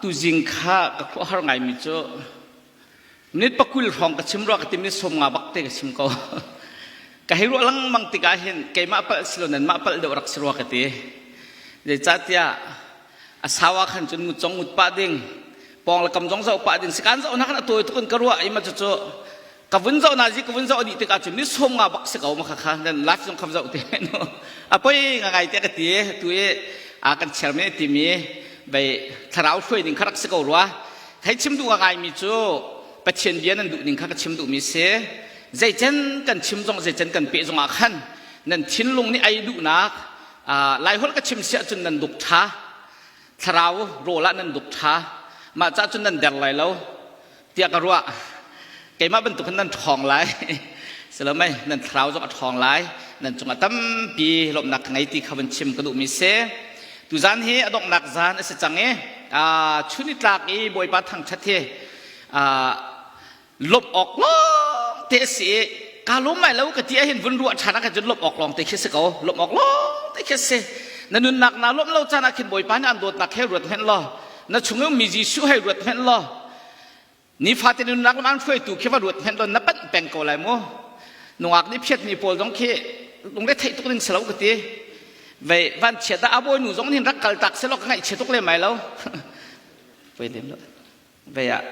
Tuzing kha ka khuahar ngaimi cu minute pakul hrawng ka chim rua ka ti minute sawm nga bak te ka chim ko ka hei ruah lengmang tikah hin keimah palh si lo nanmah palh deuh rak si rua ka ti zeicahtiah a sawa khan cun ngut cong ngut pah ding pawng le kam zong zau pah ding sikan zau na kan atuai tukin ka ruah ima cucu ka vun zoh na zi ka vun zoh dih tikah cun ni sawm nga bak si ko ma khakha nan last zong kham zoh te no a poi nga ngai te ka ti tu i a kan cher me ti mi bei thlarau hruai ning kharak si ko rua thai chim du nga ngai mi cu pathian bia nan duh ning kha ka chim du mi si zei chen kan chim zong zei chen kan pe zong ah khan nan thinlung ni ai duh nak lai hol ka chim sia cun nan duk tha thlarau rola nan duk tha ma cha cun nan der lai lo tiah ka ruah keimah bantuk khan nan ṭhawng lai silomei nan thlarau zong a ṭhawng lai nan cungah tampi lawmhnak ka ngei ti kha van chim ka duhmi si tuzan hi a donghnak zan a si cang i chun i tlak i bawipa thangṭhat hi lawmh awk lawng te a si i ka lawm mai lo ka ti ahhin vun ruah ṭhan ahkhan cun lawmh awk lawng te khi si ko lawmh awk lawng te khi si na nunnak naa lawmh lo caan ahkhin bawipa nih an dawtnak he ruat hmenh law na chungin mi Jesuh hai ruat hmenh law nifate nunnak lam hruaitu khi va ruat hmenh law na panh peng ko lai mu nungak nih phiatmi pawl zong khi lungre theih tuk ning si lo ka ti vei van chia da a bawinu zong nin rak kal tak se lo ka ngaih chia tuk le mai lo voi dem lo vei ah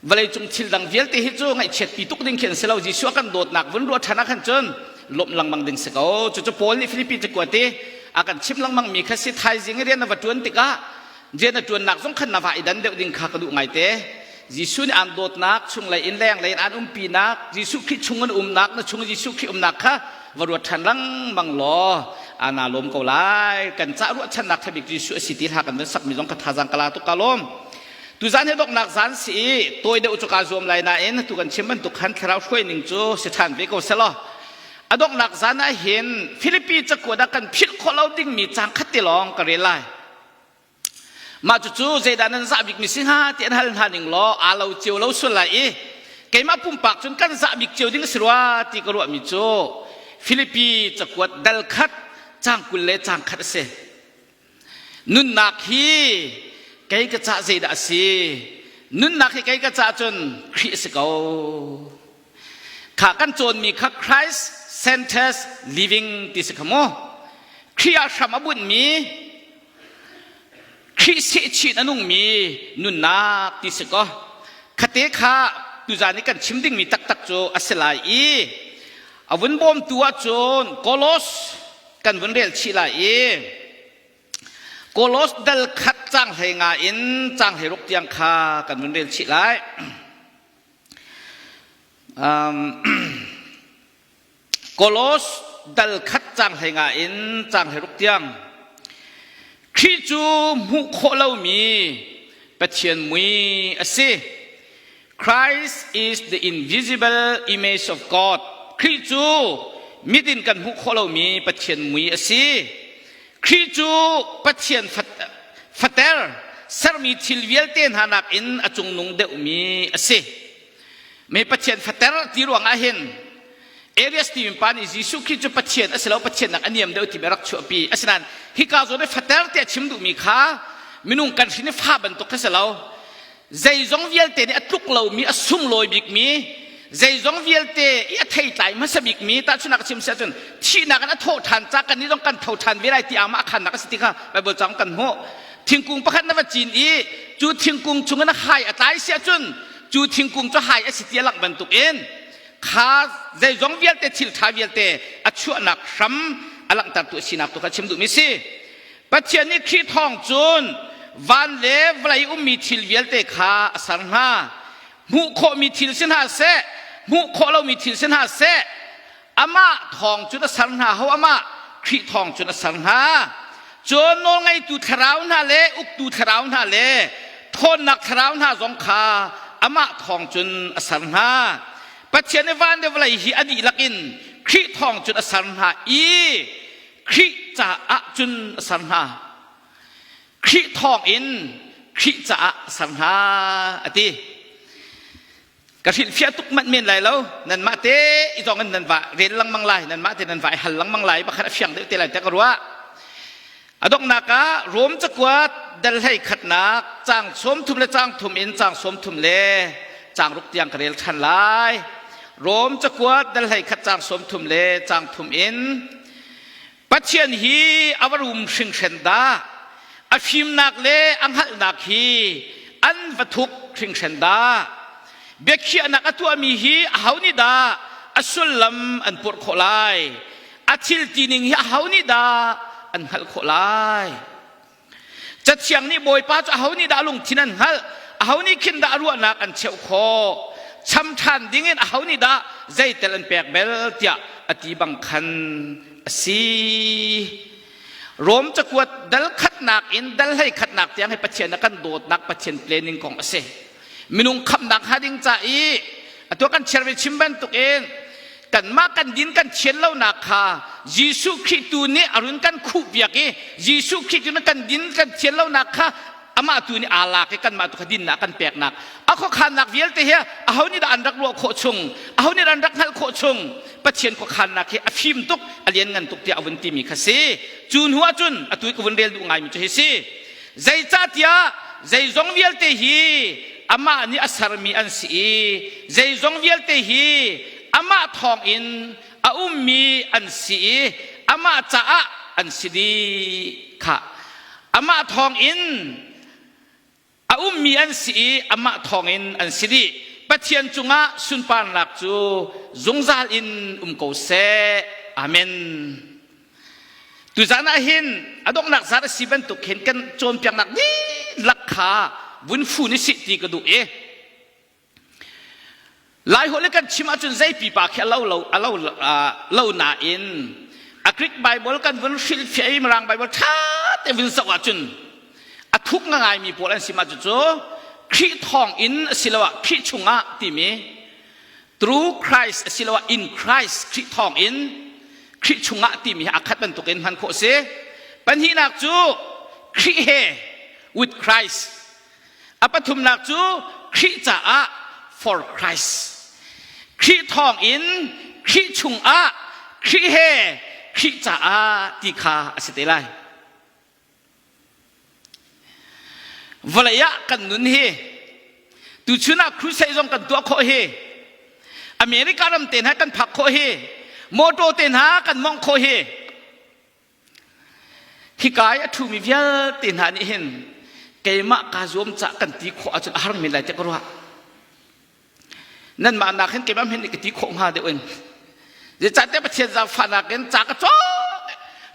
vawleicung thil dang vialte hi cu ngaihchiatpi tuk ding khi an si lo Jesuh a kan dawtnak vun ruah ṭhan ah khan cun lawmh lengmang ding si ko cucu Paul nih Filipi te kuat i a kan chim lengmang mi kha si thaizing i rian na va ṭuan tikah rian na ṭuannak zong khan na va i dan deuh ding kha ka duh ngaite Jesuh nih aan dawtnak chunglei in lenglei in aan umpinak Jesuh Khrih chung in umnak na chung Jesuh Khrih umnak kha va ruat ṭhan lengmang law ana lawm ko lai kan cah ruahchannak ṭhabik Jesuh a si ti hla kan van sakmi zong ka thazang kala tuk ka lawm Tuzaan hi donghnak zaan si i tawi deuh cu kaa zuam lai nain atu kan chim bantuk khan thlarau hruaining cu si ṭhan ve ko selaw a donghnak zaan ah hin Filipi cakuat ah kan philh khawh lo dingmi caan khat te lawng ka rel lai. Mah cucu zeidah nan zah bikmi si hnga ti an hal hna ning law aa lo cio lo sual lai i keimah pumpak cun kan zah bik cio ding a si rua ti ka ruahmi cu Filipi cakuat dal khat cang kul le cang khat a si. nunnak hi kei ka cah zeidah a si nunnak hi kei ka cah cun Khrih a si ko kha kan cawnmi kha Christ centers living ti si kha mu Khrih ah hram a bunhmi Khrih sehchin a nungmi nunnak ti si ko khate kha tuzan i kan chim dingmi taktak cu a si lai i a vun bawmtu ahcun Kolos kan vun rel chih lai i kolos dal khat cang hlei nga in cang hlei ruk tiang kha kan vun rel chih lai um, kolos dal khat cang hlei nga in cang hlei ruk tiang khi cu hmuh khawh lomi pathian mui a si Christ is the invisible image of God. Khrih cu mit in kan hmuh khawh lomi Pathian mui a si. Khrih cu Pathian fater sermi thil vialte hna nakin a cungnung deuhmi a si. Me Pathian fater ti ruangah hin Elias tiin pa nih Jesuh Khrih cu Pathian a si lo Pathian nak a niam deuh ti bia rak chuahpi asinain hika zawn i fater te a chim duhmi kha minung kan hrin i fa bantuk kha si lo zeizong vialte nih a tluk lomi a sunglawi bikmi zeizong vialte i a theitlai hmasa bikmi tahchunak a chim si ahcun thihnak in a thawh ṭhan ca kan nih zong kan tho ṭhan ve lai ti aamah a khannak a si ti kha Baibal caang kan hmuh thingkung pakhat na va cin i cu thingkung chung in a hai a tlai si ahcun cu thingkung cu hai a si ti a langh bantuk in kha zeizong vialte thil ṭha vialte a chuahnak hram a langhtertu a sinak tu kha chim duhmi si Pathian nih Khrih thawng cun van le vawlei ummi thil vialte kha a ser hna. Hmuh khawhmi thil si hna seh, hmuh khawh lomi thil si hna seh, amah thawng cun a ser hna ho amah Khrih thawng cun a ser hna. Cun nawlngeitu thlarau hna le uktu thlarau hna le ṭhawnnak thlarau hna zong kha amah thawng cun a ser hna. Pathian i van le vawlei hi a dihlak in Khrih thawng cun a ser hna i Khrih caah cun a ser hna. Khrih thawng in Khrih caah a ser hna a ti. Ka hrilhfiah tuk manh men lai lo. Nanmah te i zong in nan va rel lengmang lai. Nanmah te nan va i hal lengmang lai. Bakhat a fiang deuh te lai te ka ruah. A donghnak ah Rom cakuat dal hlei khatnak cang sawm thum le cang thum in cang sawm thum le cang ruk tiang ka rel ṭhan lai. Rom cakuat dal hlei khat cang sawm thum le cang thum in Pathian hi a va rum hringhren dah! A fimnak le a hngalhnak hi an va thup hringhren dah! Biakhiahnak a tuahmi hi aho nih dah a sullam an purh khawh lai? A thil tining hi aho nih dah an hngalh khawh lai? cathiang nih bawipa cu aho nih dah lungthin an hngalh aho nih khin dah ruahnak an cheuh khawh cham ṭhan ding in aho nih dah zeitel an pek bel tiah a ti bang khan a si Rom cakuat dal khatnak in dal hlei khatnak tiang hi Pathian a kan dawtnak Pathian planning kong a si minung khamnak hnga ding ca i atu kan chiar ve chim bantuk in kanmah kan din kan thian lonak kha Jesuh Khrih tu nih a run kan khuh biak i Jesuh Khrih tu nih kan din kan thian lonak kha amah tu nih aa lak i kanmah tu kha dinnak kan peknak a khuakhannak vialte hi a ho nih dah an rak ruah khawh chung a ho nih an rak hngalh khawh chung pathian khuakhannak hi a fim tuk a lian ngan tuk tiah a vun timi kha si cu hnu ahcun a tu ka vun rel duh ngaimi cu hi si Zeicahtiah zeizong vialte hi amah nih a sermi an si i zeizong vialte hi amah thawngin a ummi an si i amah caah an si dih kha amah thawngin a ummi an si i amah thawngin an si dih pathian cungah sunparnak cu zungzal in um ko seh amen Tuzan ah hin a donghnak zat a si bantuk hin kan cawnpiaknak dihlak kha vun fu ni si ti ka duh i lai holh i kan chim ahcun zei pipa khi a lo lo a lo lo nain a Greek Bible kan vun hrilhfiah i Mirang Bible ṭha te vun zoh ahcun a thuk nga ngaimi pawl an si ma cucu Khrih thawng in asiloah Khrih chungah timi through Christ asiloah in Christ Khrih thawng in Khrih chungah timi hi akhat bantukin hman khawh si pahnihnak cu Khrih he with Christ a pathumnak cu Khrih caah for Christ Khrih thawng in Khrih chungah Khrih he Khrih caah ti kha a si te lai vawlei ah kan nun hi tuchun ah crusade zong kan tuah khawh hi America ram te hna kan phak khawh hi motor te hna kan mong khawh hi hikai a thumi vialte hna nih hin keimah kaa zuam cah kan ti khawh ahcun a har men lai tiah ka ruah nanmah nak hin keimah min ka ti khawh hnga deuh in zeicahte pathian zaangfahnak in ca ka cawk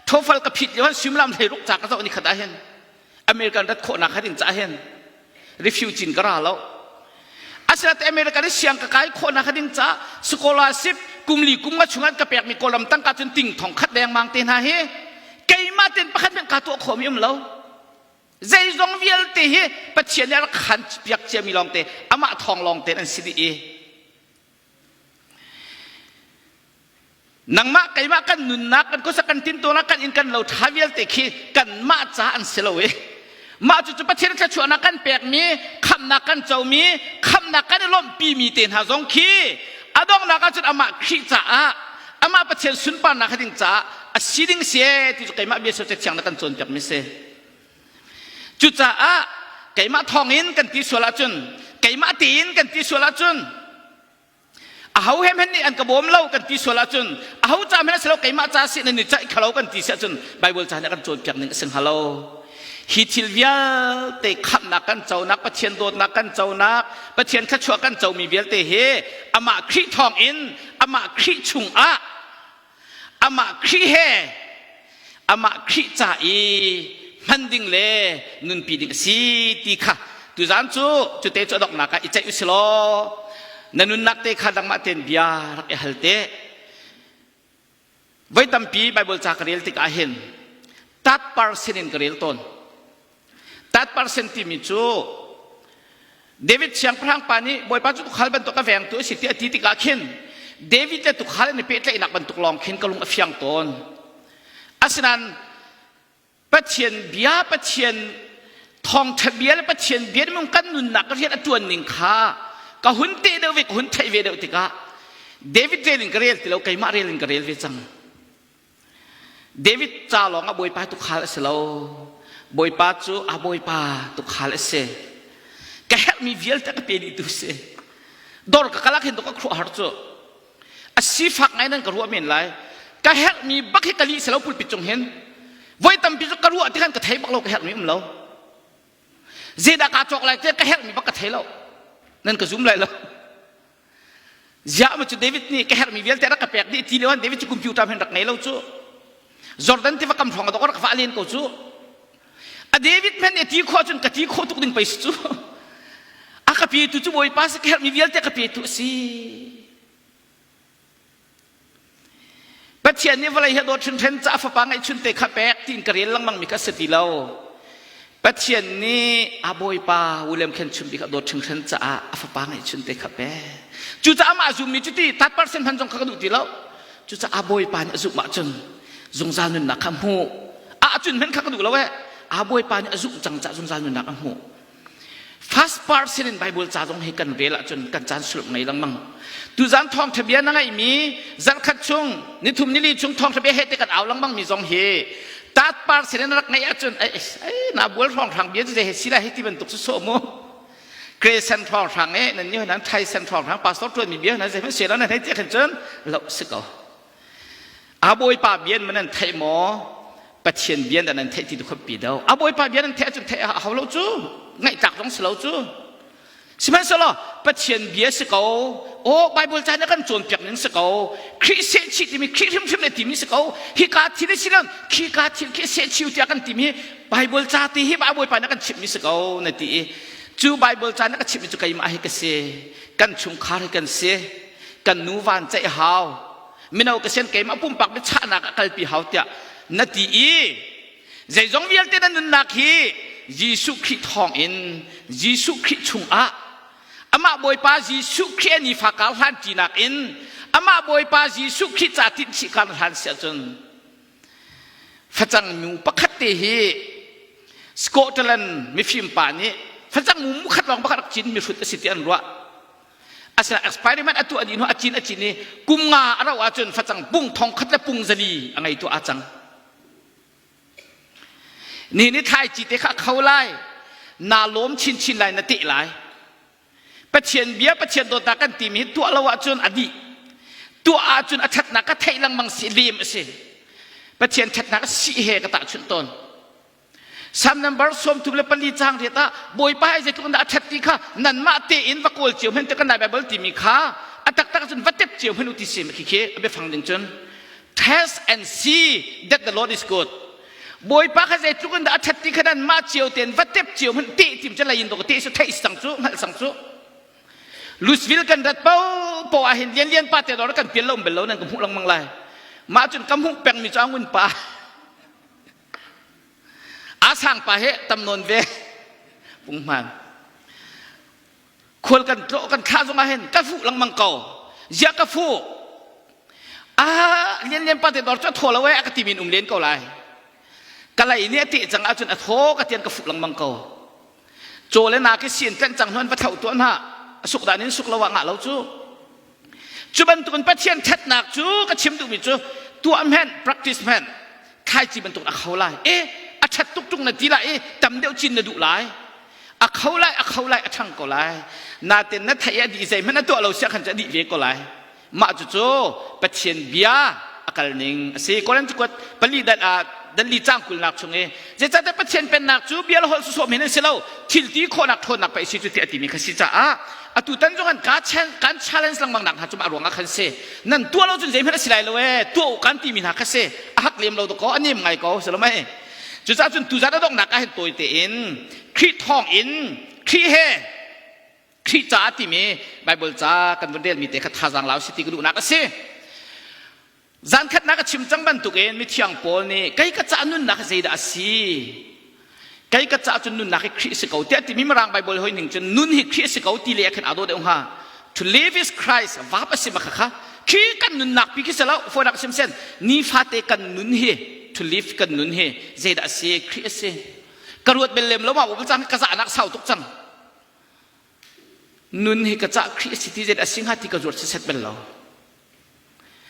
thofal ka phit lio suimilam hlei ruk ca ka cawk ni khat ah hin american rat khawhnak khat in ca hin refugee ka ra lo asinate american i siang ka kai khawhnak khat in ca scholarship kumli kumnga chungan ka pekmi kawlam tangka cun ting thong khat dengmang te hna hi keimah ten pakhat men ka tuah khomi um lo zeizong vialte hi pathian nih a rak khan piak ciami lawngte amah thawng lawngte an si dih i nangmah keimah kan nunnak kan khuasa kan tintunak kan in kan lo ṭha vialte khi kanmah ca an si lo i mah cucu pathian thluachuahnak kan pekmi khamnak kan comi khamnak kan i lawmhpimi te hna zong khi a donghnak ahcun amah Khrih caah amah pathian sunparnak ding caah a si ding si ti cu keimah bia socek thiang na kan cawnpiakmi si Cucaah keimah thawng in kan ti sual ahcun keimah tiin kan ti sual ahcun aho he hen nih an ka bawm lo kan ti sual ahcun aho ca men si lo keimah ca si nan i caih kha lo kan ti si ahcun Baibal ca nih a kan cawnpiak ning a si hnga lo hi thil vialte khamhnak kan conak Pathian dawtnak kan conak Pathian thluachuah kan comi vialte hi amah Khrih thawng in amah Khrih chung ah amah Khrih he amah Khrih ca i hman ding le nunpi ding a si ti kha tuzan cu cute cu adoknak ah i ceih usi law na nunnak te kha dangmah ten bia rak i hal te voi tampi bible ca ka rel tikah hin third person in ka rel tawn That percent timi cu David siangpahrang pa nih Bawipa cu tukhal bantuk a vengtu a si ti a ti tikah khin David le tukhal an i pehtlaihnak bantuk lawng khin ka lung a fiang tawn. Asinain Pathian bia, Pathian thawngṭha bia le Pathian bia nih kan nunnak ka rian a ṭuan ning kha ka hun teh deuh ve, ka hun theih ve deuh tikah David rel in ka rel ti lo, keimah rel in ka rel ve cang. David ca lawng ah Bawipa tukhal a si lo. Bawipa cu a Bawipa tukhal a si. Ka herhmi vialte ka pe ni tu si. Dor ka kalak hin to ka khuh har cu. A sifak ngai nan ka ruah men lai. Ka herhmi bak hi kali se lo pulpit cung hin. Voi tampi cu ka ruah ti khan ka thei bak lo ka herhmi um lo. Zeidah ka cawk lai te ka herhmi bak ka thei lo. Nan ka zum lai lo. ziah cu david nih ka herhmi vialte rak ka pek dih ti leo david cu computer men rak ngei lo cu jordan tiva kam hrawng tok rak vah len ko cu a david men nih ti khua cun ka ti kho tuk ding pei cu a ka pe tu cu bawipa si ka herhmi vialte ka pe tu a si Pathian nih vawlei hi dawt hrinhren ca fapa ngeihchun te kha pek tiin ka rel lengmangmi kha si ti lo. Pathian nih a bawipa William Khen chim bik a dawt hrinhren caah a fapa ngeihchun te kha pek. Cucaah mah a zummi cu ti tat percent hman zong kha ka duh ti lo. Cucaah bawipa nih a zumh ahcun zungzal nunnak kha hmuh. A cun hmen kha ka duh lo ee. A bawipa nih a zumh cang caah zungzal nunnak a hmuh. First person in Bible ca zong hi kan rel ahcun kan caan sulh ngei lengmang. Tuzang thawngtha bia na ngeihmi zarkhat chung nithum nili chung thawngtha bia he te kan au lengmangmi zong hi tat person in rak ngeih ahcun ai na bual hrang hrang bia cu he sila hi ti bantuk su so mu Creation hrang hrang e nan ni nan thai sen hrang hrang pastor tuan mi bia nan zei hmanh se lo nan hei ti khan cun lo si ko a bawipa bian man an theih maw pathian bian dan an theih ti tu khuapi do a bawipa bian an theih cun theih a hau lo cu ngaihtlak zong si lo cu sihmanhsehlaw pathian bia si ko o bible ca na kan cawn piak ning si ko khrih se chi timi khrih hrimhrim le timi si ko hi ka thil si nan khi ka thil khi se chiu tia kan timi bible ca ti hi a bawipa na kan chimmi si ko na ti i cu bible ca na ka chimmi cu keimah hi ka si kan chungkhar hi kan si kan nu van ceih hau mino ka sian keimah pumpak mi chahnak a kalpi hau tiah na ti i zeizong vialte na nunnak hi Jesuh Khrih thawng in Jesuh Khrih chungah amah Bawipa Jesuh Khrih a nifa kar hlan ṭinak in amah Bawipa Jesuh Khrih ca tin chih kan hlan si ahcun facang mu pakhat te hi Scotland mifim pa nih facang mu khat lawng pakhat cin mihrut a si ti an ruah asina experiment a tuah dih hnu a cin a cin i kum nga a rauh ahcun facang pung thong khat le pung zali a ngei tu a cang ni ni thlaici te kha kho lai naa lawm chinchin lai na teh lai pathian bia pathian dawtnak kan timi hi tuah lo ahcun a dih tuah ahcun a thatnak ka theih lengmang si lem a si pathian thatnak si he ka tahchunh tawn Sam number sawmthum le pali cang riat ah Bawipa hi zeitluk in dah a ṭhat ti kha nanmah tein va kawl cio hen te kan Lai Baibal timi kha a taktak cun va tep cio hen u ti si khi khi a biafang ding cun test and see that the Lord is good Bawipa kha zeitluk in dah a ṭhat ti kha nanmah cio tein va tep cio hen te tim cu lain do ka te su theih sang cu hngalh sang cu Louisville kan rat po po ah hin lian lian pa te dor kan pian lo um bel lo nan ka hmuh langmang lai mah cun ka hmuh peng mi cu angwin pa Asang pa he tam nawn ve pungman khual kan tlo kan kha zong ah hin ka fu langmang ko zia ka fu a lian lian pa te dor chu tho lo eh ka ti min um len ko lai kalai ne te chang ahcun a tho ka tian ka fu langmang ko cho le na ke sien tlen chang hon va thau tu na suk dan in suk lo wa nga lo chu Cu bantukin Pathian ṭhatnak cu ka chim duhmi cu tuah hmenh, practice hmenh, thlaici bantuk a kho lai. E, a ṭhat tuk ṭung na ti lai i tam deuh cin na duh lai. A kho lai, a kho lai, a ṭhang ko lai. Naten na theih i a dih zeihmanh a tuah lo siah khan cu a dih ve ko lai. Mah cucu Pathian bia a kalning a si. Korinth kuat pali dan ah dan li cang kulnak chung i zeicahtiah Pathian pennak cu bia le holh sawsawh men an si lo thilti khawhnak ṭhawnnak pei a si cu tiah a timi kha si caah atu tan zong an kan challenge lengmang nak hna cu a ruangah khan si nan tuah lo cun zeihmanh a si lai lo ee tuah u kan timi hna kha si a hak lem lo da ko a nem ngai ko si lo mei cucaah cun tuzan a donghnak ah hin tawi tein khrih thawng in khrih he khrih caah timi bible ca kan vun relmi te kha thazang lau si ti ka duhnak a si zankhatnak a chim cang bantukin mithiang paul nih kei ka cah nunnak hi zeidah a si kei ka cah cu nunnak hi khrih si ko tiah timi mirang bible hoi ning cun nun hi khrih si ko ti le khan ado deuh hnga to live is christ vap a si ma khakha khi kan nunnak pi khi se lo fonak sim sen nifate kan nun hi to live kan nun hi zeidah a si khrih a si ka ruat bel lem lo ma wo cang ka za nak sau tuk cang nun hi ka cah Khrih a si ti zeidah a si hnga ti ka zuar set bel lo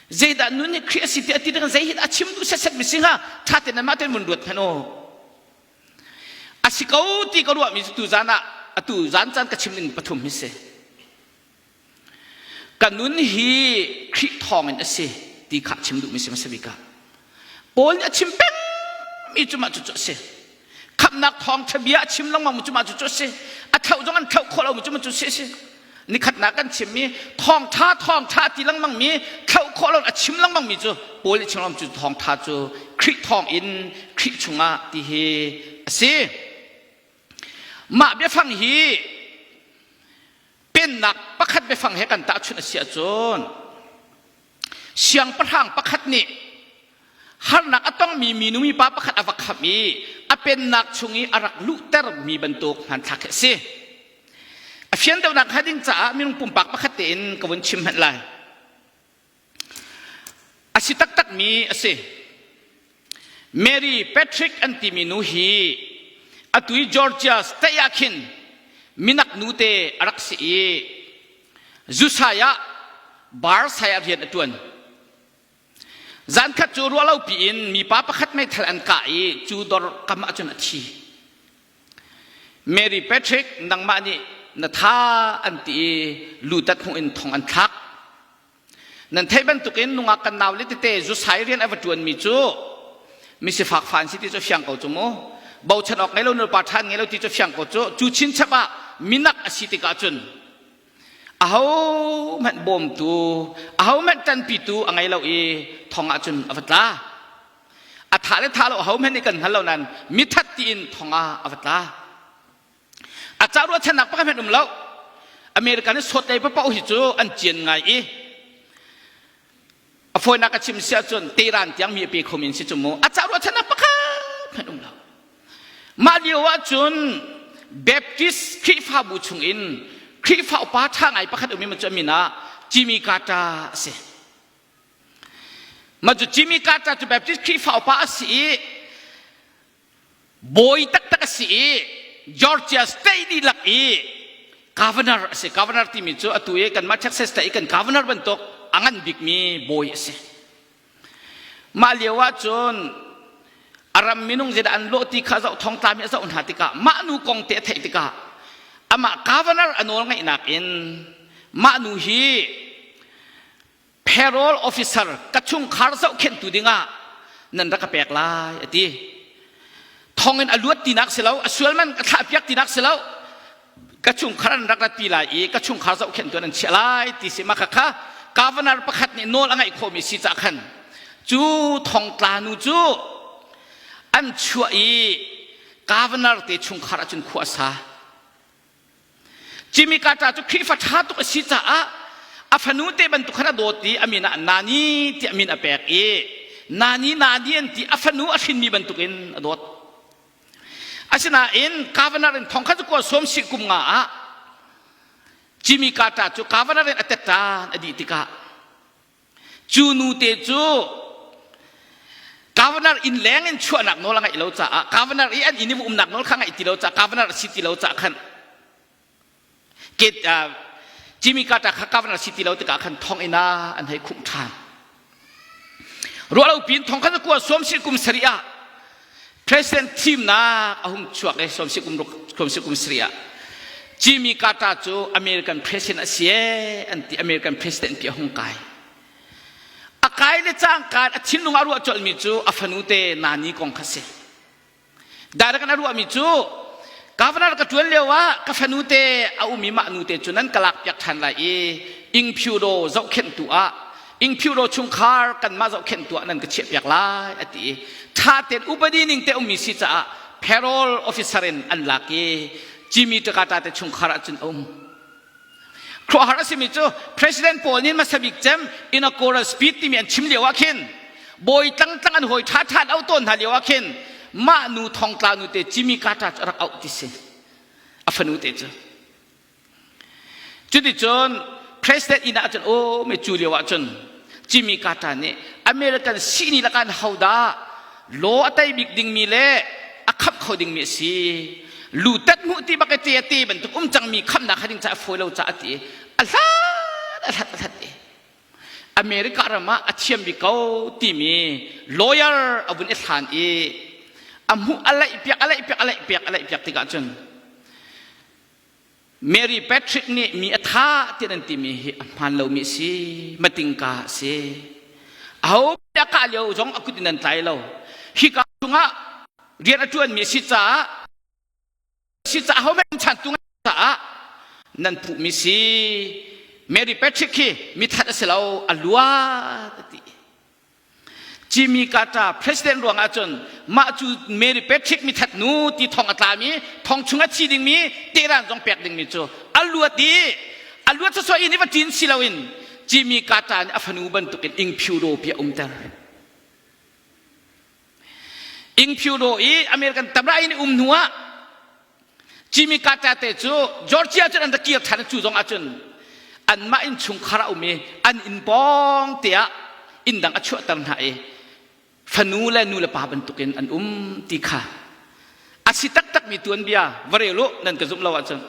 zeidah nun hi Khrih a si ti a ti dang zei hi a chim duh set set mi si hnga ṭha tein mah tein mun ruat phen o a si ko ti ka ruah mi tu zan ah a tu zan caan ka chim ning pathum hi si ka nun hi Khrih thawng in a si ti kha chim duhmi si hmasa bik ah Paul nih a chim peng mi cu mah cucu a si khamhnak thawngṭha bia a chim lengmang mi cu mah cucu a si a thlauh zong an thlauh khawh lo mi cu mah cu si a si nikhatnak kan chim mi thawngṭha thawngṭha ti lengmang mi thlauh khawh lo a chim lengmang mi cu Paul nih chim lengmang cu thawngṭha cu Khrih thawng in Khrih chungah ti hi a si mah biafang hi pennak pakhat biafang he kan tahchunh a si ahcun siangpahrang pakhat nih harnak a tongmi minu mipa pakhat a va khamh i a pennak chung i a rak luhter mi bantuk hmanthlak hi a si a fian deuhnak hnga ding caah minung pumpak pakhat tein ka vun chim hmanh lai A si taktakmi a si. Mary Patrick an timi nu hi atu i Georgia state ah khin minak nute a rak si i zusai ah bar sai ah rian a ṭuan. Zankhat cu ruahlopi in mipa pakhat meithal an kah i cu dor kam ah cun a thi. Mary Patrick nangmah nih na tha an ti i lutat hmuh in thong an thlak. Nan theih bantukin nungak kan nau le tete zusai rian a va ṭuanmi cu misifak fa an si ti cu fiang ko cu mu. Bochan awk ngei lo nupa ṭhan ngei lo ti cu fiang ko cu. Cu chinchap ah minak a si tikah cun ahohmanh bawmtu ahohmanh ṭanpitu a ngei lo i thong ah cun a va tla. a tha le tha lo hohmanh nih kan hngal lo nain mithat tiin thong ah a va tla a ca ruahchannak pakhat hmanh um lo american i sawtlei papaoh hi cu an cian ngai i a fawinak a chim si ahcun teran tiang mi a pe khomi in si cu mu a ca ruahchannak pakhat hmanh um lo mah lio ah cun baptist khrihfabu chung in khrihfa upa ṭha ngai pakhat um i cu min ah jimmy carter a si Mah cu Jimmy Carter cu Baptist Khrihfa upa a si i bawi taktak a si i Georgia State i lak i governor a si. Governor timi cu atu i kanmah Texas le i kan governor bantuk a ngan bikmi bawi a si. Mah lio ahcun a ram minung zeidah an lawh ti kha zoh thong tlami a zoh hna tikah mah nu kong te a theih tikah amah governor a nawl ngaihnak in mah nu hi parole officer ka chungkhar zohkhenhtu dingah nan rak ka pek lai a ti thongin a luat tinak si lo a sual man ka thlah piak tinak si lo ka chungkhar an rak ratpi lai i ka chungkhar zohkhenhtu nan chiah lai ti si ma khakha governor pakhat nih nawl a ngaih khomi si cah khan cu thongtlanu cu an chuah i governor te chungkhar ahcun khua sa Jimmy Carter cu Khrihfa ṭha tuk a si caah a fanu te bantuk khan a dawt i a min ah Nani ti a min a pek i Nani Nani an ti a fanu a hrinmi bantukin a dawt. Asinain governor in thong khat cu kual sawm si kum nga ah Jimmy Carter cu governor in a tettan a dih tikah cu nute cu governor inn leng in chuahnak nawl a ngaih lo caah governor i an inn i umnak nawl kha ngaih ti lo caah governor a si ti lo caah khan Jimmy Carter kha governor si ti lo tikah khan thonginn ah an hei khumh ṭhan ruahlo piin thong khan a kua sawm sin kum sarih ah President thimnak a hung chuak i kum sarih ah Jimmy Carter cu American president a si ee an ti American president pi a hung kai a kai le cangkaan a thinlung a ruah colmi cu a fanu te nani kong kha si direct na ruahmi cu governor ka tuan lio ah ka fanu te a umi mah nu te cu nan ka lak piak than lai i ingphyudaw zohkhenhtu ah ingphiuro chungkhar kanmah zohkhenh tuah nan ka chiah piak lai a ti i ṭha tein upadi ning te ummi si caah parole officer in an lak i Jimmy Takata te chungkhar ah cun um khuahar a simi cu president paul nih masabik cem in a choral speech timi an chim lio ah khin bawi tlang tlang an hoi ṭha ṭhan au tawn hna lio ah khin mah nu thongtla nu te Jimmy Carter cu rak auh ti si a fanu te cu Cuticun president inn ah cun awm i cu lio ah cun Jimmy Carter nih American sihni lakan hodah law a tei bik dingmi le a khap kho dingmi a si lutat hmuh ti bak i te a te bantuk um cangmi khamnak hading ca a fawi lo caah ti a hlat a hlat a hlat i America ram ah a thiam bik ko timi lawyer a vun i hlan i a hmuh a laih piak a laih piak a laih piak a laih piak tikah cun Mary Patrick nih mi a tha tiah nan timi hi a hmaan lomi a si matingka a si aho bia kah lio zong a kut in nan tlai lo hika chungah rian a ṭuanmi a si caah si caah ho men chan tu caah nan phuhmi si Mary Patrick hi mithat a si lo a luat a ti Jimmy Carter president ruang ahcun mah cu Mary Patrick mithat nu ti thong a tlami thong chung a thi dingmi Tehran zong pek dingmi cu a luat i a luat sawsawh in i va ṭin si loin Jimmy Carter nih a fanu bantukin ing phiu dawpi a umter. Ing Pyo Daw i American tamrai in um hnu ah Jimmy Carter te cu Georgia cun an ra kir than cu zong ah cun anmah in chungkhar a um i an inn pawng te ah inn dang a chuahter hna i fanu le nu le pa bantuk in an um ti kha a si taktakmi tuanbia va rel u nan ka zumh lo ahcun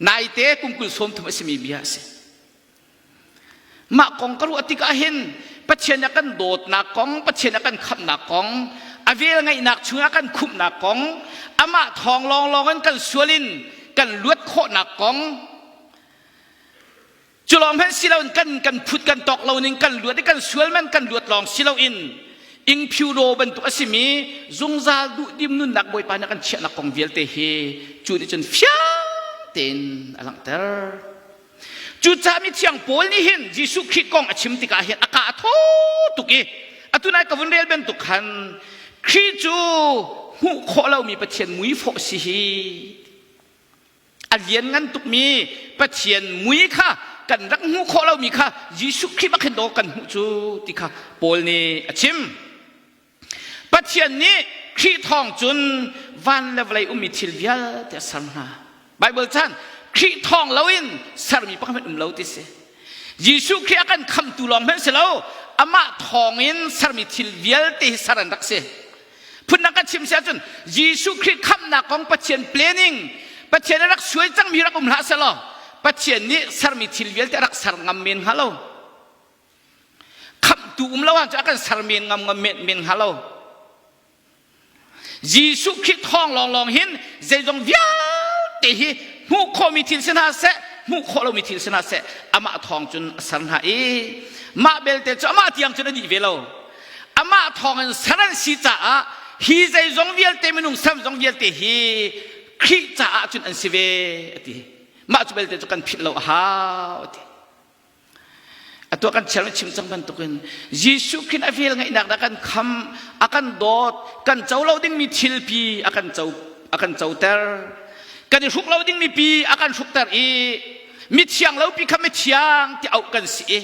naite kum kul sawm thum a simi bia a si mah kong ka ruah tikah hin Pathian a kan dawtnak kong Pathian a kan khamhnak kong a vel ngeihnak chungah kan khumhnak kong amah thawng lawnglawng in kan sual in kan luat khawhnak kong cu lawng hmanh si loin kan kan phut kan tawk lo ning kan luat i kan sual man kan luat lawng si loin ingphiu ro bantuk a simi zungzal duh dim nunnak bawipa nih kan chiahnak kong vialte hi cu nih cun fiang tein a langhter Cucaah mithiang Paul nih hin Jesuh Khrih kong a chim tikah hin a ka a thaw tuk i atu nai ka vun rel bantuk khan Khrih cu hmuh khawh lomi Pathian mui fawh si hi a lianngan tukmi Pathian mui kha kan rak hmuh khawh lomi kha Jesuh Khrih bak hin dawh kan hmuh cu ti kha Paul nih a chim. Pathian nih Khrih thawng cun van le vawlei ummi thil vialte a ser hna. Baibal chan Khrih thawng loin sermi pakhat hmanh um lo ti si. Jesuh Khrih a kan khamtu lawng hmanh si lo, amah thawngin sermi thil vialte hi ser an rak si. Phundang kan chim si ahcun Jesuh Khrih khamnak kong Pathian planning, Pathian a rak suai cangmi rak um hlah selaw, Pathian nih sermi thil vialte a rak ser ngam men hnga lo. khamtu um lo ahcun a kan ser men ngam ngam men men hnga lo Jesuh Khrih thawng lawnglawng hin zeizong vialte hi hmuh khawhmi thil si hna seh hmuh khawh lomi thil si hna seh amah thawng cun a ser hna i mah belte cu amah tiang cun a dih ve lo amah thawng in ser an si caah hi zeizong vialte minung sem zong vialte hi Khrih caah cun an si ve a ti mah cu belte cu kan philh lo a hau a ti Atu kan chel chim cang bantukin Jesuh khin a vel ngaihnak dah kan kham a kan dawt kan co lo dingmi thilpi a kan co a kan coter kan i hruk lo dingmi pi a kan hrukter i mi thiang lo pi kha mi thiang ti auh kan si i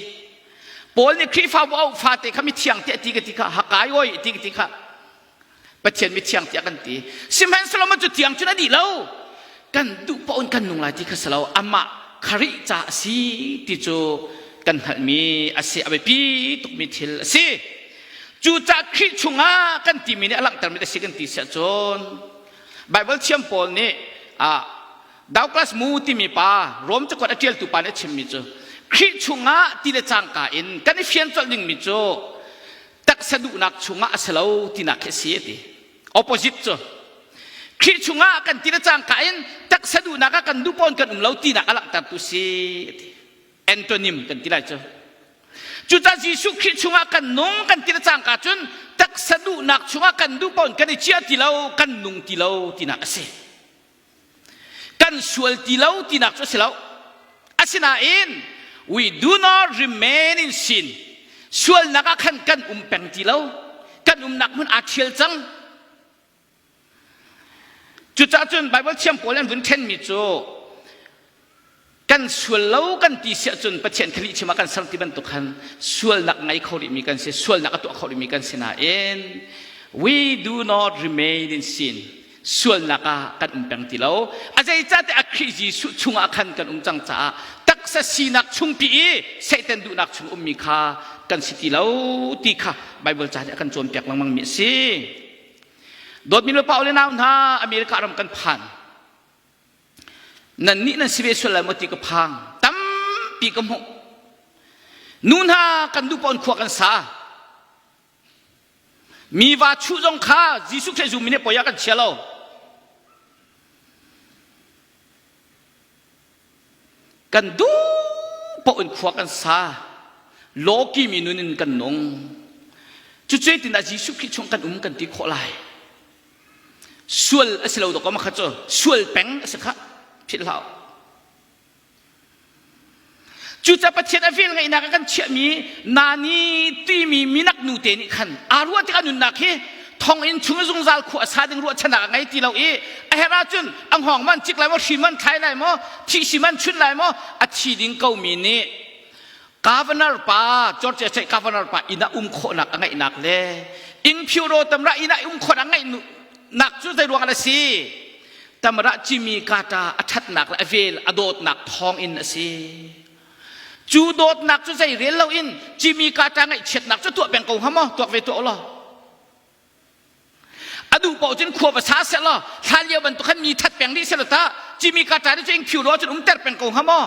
Paul nih Khrihfabu auh fate kha mi thiang ti a ti ka ti kha hakai oi ti ka ti kha Pathian mithiang tiah kan ti. Sihmanhsehlaw cu tiang cun a dih lo. Kan duh paoh in kan nung lai ti kha si lo. Amah kharih ca a si ti cu kan hngalhmi a si. A biapi tukmi thil a si. Cucaah Khrih chungah kan timi nih a langhtermi a si kan ti siah cun Baibal thiam pawl nih Douglas Moo timi pa Rom cakuat a ṭialtu pa nih a chimmi cu Khrih chungah ti le cangka in kan i fian colh dingmi cu taksa duhnak chungah a si lo tinak khi a si a ti opposite cu Khrih chungah kan ti le cangka in taksa duhnak ah kan dupawn kan um lo tinak a langhtertu si ti antonym kan ti lai cu cucah Jesuh Khrih chungah kan nung kan ti le cangka cun taksa duhnak chungah kan dupawn kan i ciah ti lo kan nung ti lo tinak a si kan sual ti lo tinak cu a si lo asinain we do not remain in sin sualnak ah khan kan um peng ti lo kan umnak hmun aa ṭhial cang cucahcun Baibal thiam pawl an vun ṭhenmi cu kan sual lo kan ti siah cun Pathian kha lihchim ah kan ser ti bantuk khan sualnak ngei kho rihmi kan si sualnak a tuah kho rihmi kan si nain we do not remain in sin sualnak ah kan um peng ti lo a zeicahtiah a Khrih Jesuh chungah khan kan um cang caah taksa sinak chungpi i Satan duhnak chung ummi kha kan si ti lo ti kha Bible ca nih a kan cawnpiak lengmang mi a si dawtmi nu Paul le nau hna America ram kan phan Nannih nan si ve sual lai maw ti ka phang. Tampi ka hmuh. Nu hna kan dupa in khua kan sa. Mi va chu zong kha Jesuh Khrist zummi nih poi ah kan chia lo. Kan dupa in khua kan sa. Loki mi nun in kan nung. Cucu tin ah Jesuh Khrist chung kan um kan ti khawh lai. sual a si lo dawk makhat cu sual peng a si kha philh hlah cucaah pathian a vel ngaihnak kan chiahmi nani timi minak nu te nih khan aa ruah tikah nunnak hi thong in chung zungzal khu a sa ding ruahchanak a ngei ti lo i a her ahcun a hngawng man cik lai maw hrin man thlai lai maw thihsi man chun lai maw a thi ding komi nih governor pa Georgia state governor pa inn ah um khawhnak a ngeihnak le ing phyu ro tamra inn ah um khawh a ngeih nak cu zei ruang a si tamra cimi kata a thatnak le a vel a dawtnak thawng in a si cu dawtnak cu zei rel lo in cimi kata ngaihchiatnak cu tuah peng ko ha maw tuak ve tuah lo a duh paoh cun khua va sa se lo hlan lio bantuk khan mi that peng rih se lo ta cimi kata ri cu ing phyu ro cun um ter peng ko ha maw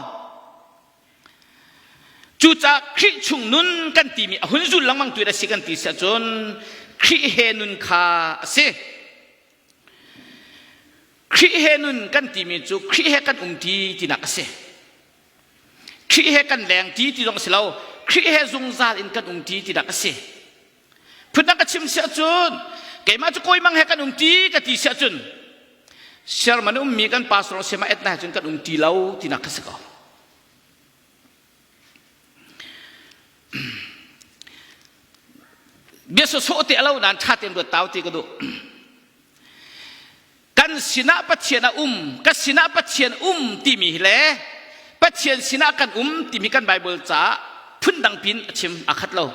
Cucaah Khrih chung nun kan timi a hun zul lengmang tu si kan ti si ahcun Khrih he nun kha a si. Khrih he nun kan timi cu Khrih he kan um ti tinak a si. Khrih he kan leng ti ti zong a si lo. Khrih he zungzal in kan um ti tinak a si. Phutnak ka chim siah cun keimah cu koimang he kan um ti ka ti siah cun sermon ummi kan pastor siama etna he cun kan um ti lo tinak ka si ko. Bia sawsawh te alo nan tha ten ruat tau ti ka duh. kan sinah Pathian a um ka sinah Pathian um timi le Pathian sinah kan um timi kan Bible ca phundang pin a chim a khat lo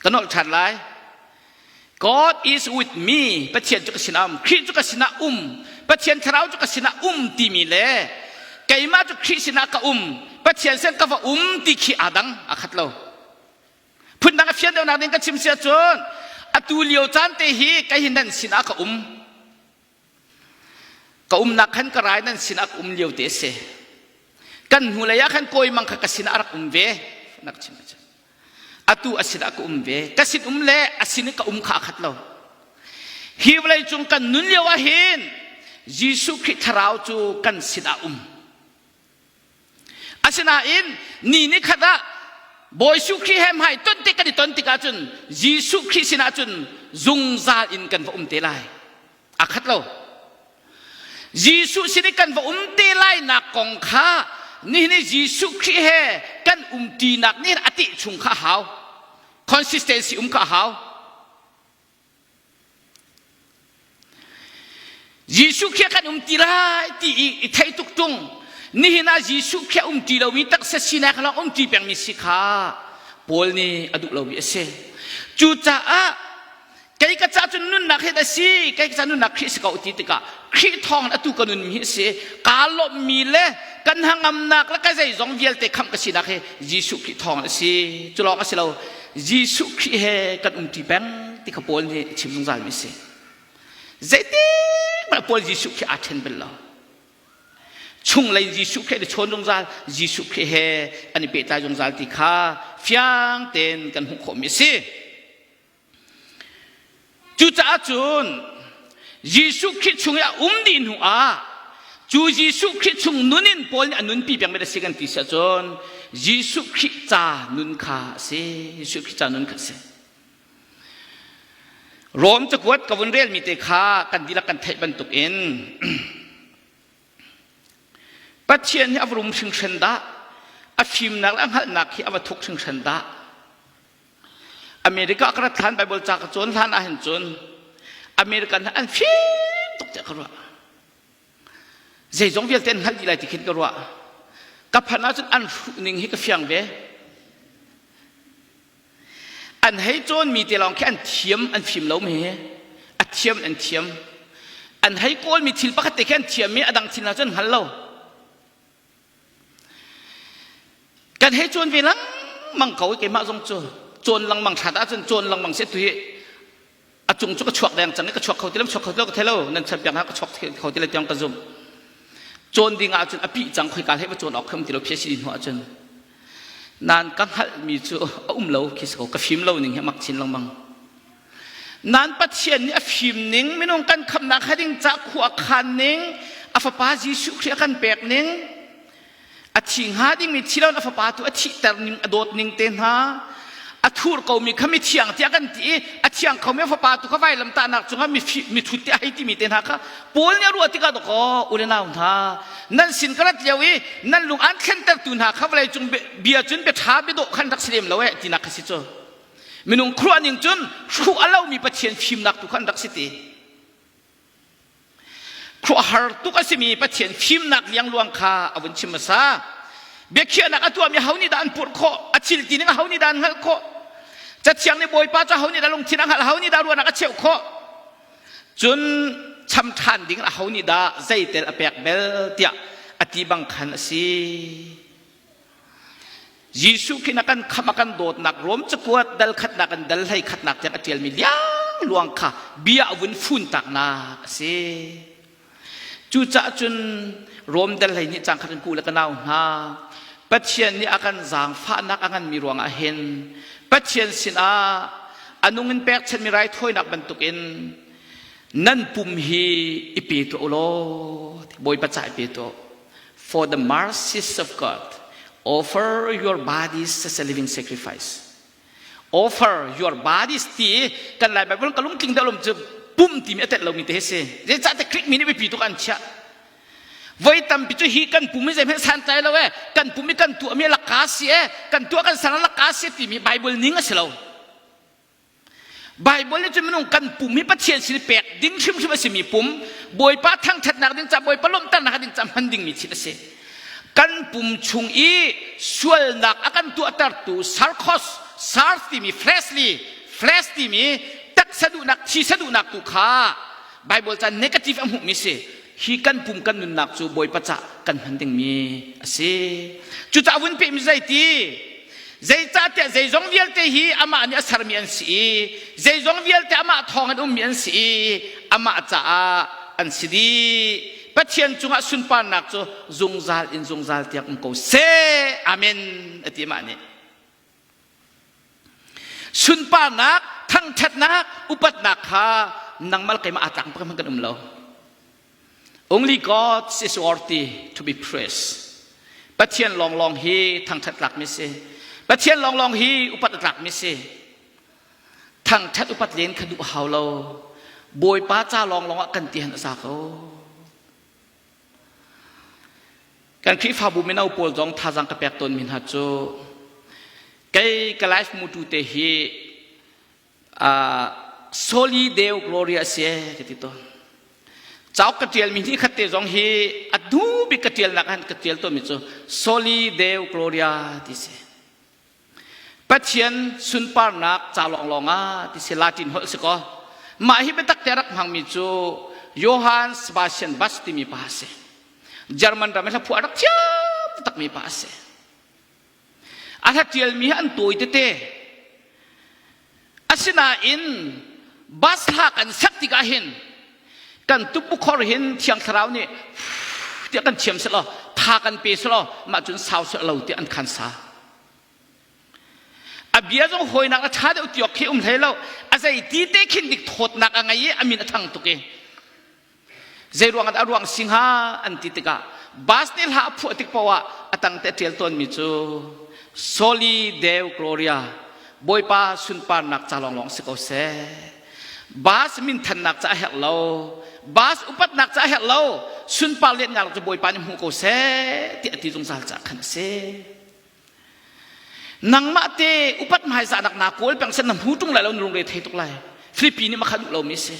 kan olh ṭhan lai God is with me Pathian cu ka sinah um Khrih cu ka sinah um Pathian thlarau cu ka sinah um timi le keimah cu Khrih sinah ka um Pathian sen ka va um ti khi aa dang a khat lo phundang a fian deuhnak ding ka chim si ahcun atu lio caan te hi kei hi nan sinah ka um ka umnak khan ka rai nan sinah ka um lio te si kan hnu lei ah khan kawi mang kha ka sinah a rak um ve nak chim atu a sinah ka um ve ka sin um le a sin ka um kha khat lo hi vawlei cung kan nun lio ah hin Jesuh Khrih thlarau cu kan sinah um Asinain ni ni khat ah Bawi Jesuh Khrih he hmai ton tik kan i ton tikah cun Jesuh Khrih sinah cun zungzal in kan va um te lai. A khat lo. Jesuh sin i kan va um te lainak kong kha nihin i Jesuh Khrih he kan umṭinak nih a tih chung kha a hau. Consistency um kha a hau. Jesuh khi kan um ti lai ti i, i thei tuk tung nihin ah Jesuh khi um ti lomi taksa sinak lawng um ti pengmi si kha Paul nih a duh lomi a si cucaah kei ka ca cu nunnak hi a si kei ka ca nunnak Khrih si ko ti tikah Khrih thawng atu ka nunmi hi a si kaa lawmhmi le kan hangamnak le ka zeizong vialte kham ka sinak hi Jesuh Khrih thawng a si cu lawng a si lo Jesuh Khrih he kan umṭi peng ti kha Paul nih chim zungzalmi a si. Zeitik mah Paul Jesuh Khrih aa ṭhen bel lo. Chunglei Jesuh Khrih le chawn zungzal Jesuh Khrih he an i pehtlai zungzal ti kha fiang tein kan hmuh khawhmi a si. Cucaah cun Jesuh Khrih chung i a um dih hnu ah cu Jesuh Khrih chung nun in Paul nih a nunpi peng mi a si kan ti siah cun Jesuh Khrih ca nun kha a si Jesuh Khrih ca nun kha a si Rom cakuat ka vun relmi te kha kan dihlak kan theih bantuk in Pathian hi a va rum hringhran dah a fimnak le a hngalhnak hi a va thuk hringhran dah America ka rat hlan Bible ca ka cawn hlan ah hin cun American an fim tuk tiah ka ruah zeizong vialte an hngalh dih lai ti khin ka ruah ka phan ahcun an hruh ning hi ka fiang ve an hei cawnmi te lawng khi an thiam an fim lo me a thiam an thiam an hei kawlmi thil pakhat te khi an thiam i a dang thil hna cu an hngal lo kan hei cuan ve lengmang ko keimah zong cu cuan lengmang hrat ahcun cuan lengmang se tu hi a cung cu ka chuak deng cang i ka chuak kho ti lo ka chuak kho ti lo ka thei lo nan chan piak ka chuak kho ti lo tiang ka zumh cuan ding ahcun a pih cang khoi ka hlei cuan awk kham ti lo phiasi hnu ahcun nan ka hngalhmi cu a um lo khi so ka fim lo ning he mak chin lengmang nan pathian nih a fim ning minung kan khamnak ha ding cah khu a khan ning a fapa jesuh khrih a kan pek ning a thi hnga dingmi thi loin a fapa tu a thihter ning a dawt ning te hna a thur komi kha mi thiang tiah kan ti i a thiang khomi fapa tu kha vailam tahnak cungah mi mithut te ahei timi te hna kha paul nih a ruah tikah dakaw ule nau hna nan sin ka rat lio i nan lung an thlenter tu hna kha vawlei cung bia cun bia ṭha biadawh khan rak si lem lo eh tinak kha si cu minung khuruah ning cun hruh a lomi pathian fimnak tu khan rak si te khuahar tuk a simi pathian fimnak liangluang kha a vun chim hmasa biakhiahnak a tuahmi ho nih dah an purh khawh a thil tining ho nih dah an hngalh khawh cathiang nih bawipa cu ho nih dah lungthin a hngalh ho nih dah ruahnak a cheuh khawh cun cham ṭhan ding a ho nih dah zeitel a pek bel tiah a ti bang khan a si Jesuh khin a kan kham a kan dawtnak Rom cakuat dal khatnak an dal hlei khatnak tiang a ṭialmi liang luang kha bia a vun fun taknak a si. Cucaah cun Rom dal hlei nih cang khat in ku le ka nau hna Pathian nih a kan zaangfahnak a nganmi ruangah hin Pathian sinah a nung in pekchanmi raithawinak bantukin nan pum hi i pe tuah u law Bawipa ca i pe tuah For the mercies of God, offer your bodies as a living sacrifice. Offer your bodies ti kan lai Bible ka lungtling dalum cu pum ti mi atet lo mi te se je cha te krik mi ni pi tu kan chia voi tam pi chu hi kan pum ze me san tai lo e kan pum mi kan tu mi la ka si e kan tu kan sang la ka si ti mi bible ning a si lo Baibal nih cun minung kan pum hi Pathian sin i pek ding hrimhrim a simi pum Bawipa thangṭhatnak ding ca Bawipa lawmhternak ding ca hman dingmi thil a si kan pum chung i sualnak a kan tuahtertu sarkos sars timi fleshly flesh timi taksa duhnak thisa duhnak tu kha Baibal caan negative a hmuhmi si hi kan pum kan nunnak cu bawipa cah kan hman dingmi a si cucah vun pehmi zeiti zeicahtiah zeizong vialte hi amah nih a sermi an si i zeizong vialte amah thawng in ummi an si i amah caah an si dih pathian cungah sunparnak cu zungzal in zungzal tiang um ko seh amen ati mah nih sunparnak thangṭhatnak upatnak kha nangmal keimah aa tlak hmanh kan um lo only god is worthy to be praised pathian lawnglawng hi thangṭhat tlakmi si pathian lawnglawng hi upat tlakmi si thangṭhat upat len kha duh hau lo bawipa ca lawnglawng ah kan ti han a sa ko Kan Khrihfabu mino pawl zong thazaang ka pek tawnmi hna cu kei ka life mu tu te hi uh, Soli Deo Gloria a si ka ti tawn. Cauk ka tialmi ni khat te zong hi a du bik ka tialnak han ka tial tawnmi cu Soli Deo Gloria ti si. Pathian sunparnak ca lawnglawng ah ti si Latin holh si kaw mah hi biatak te rak hmangmi cu Johann Sebastian Bach timi pa a si. German ram hlaphu a rak thiam takmi pa a si. A hla ṭialmi hi an tawi tete. Asinain bus hla kan sak tikah hin kan tupukhor hin thiang thlarau nih tiah kan thiam selaw tha kan pe selaw mah cun sau seh lo tiah an khan sa a bia zong hawinak a tha deuh tiok khi um hlei lo a zei ti te khin dik thawtnak a ngei i a min a thang tuk i Zei ruangah dah a ruang si hnga an ti tikah bus nih hla a phuah tik poah a tang te ṭial tawnmi cu Soli Deo Gloria Bawipa sunparnak ca lawnglawng si ko seh. Bus minthannak ca a herh lo. Bus upatnak ca a herh lo. Sunpar lianhnak cu Bawipa nih hmu ko seh ti a ti zungzal ca khan a si. nangmah te upat hmaisa nak na paul peng sen na mu tung lai lo lungre thei tuk lai filipi nih makhan lo mi si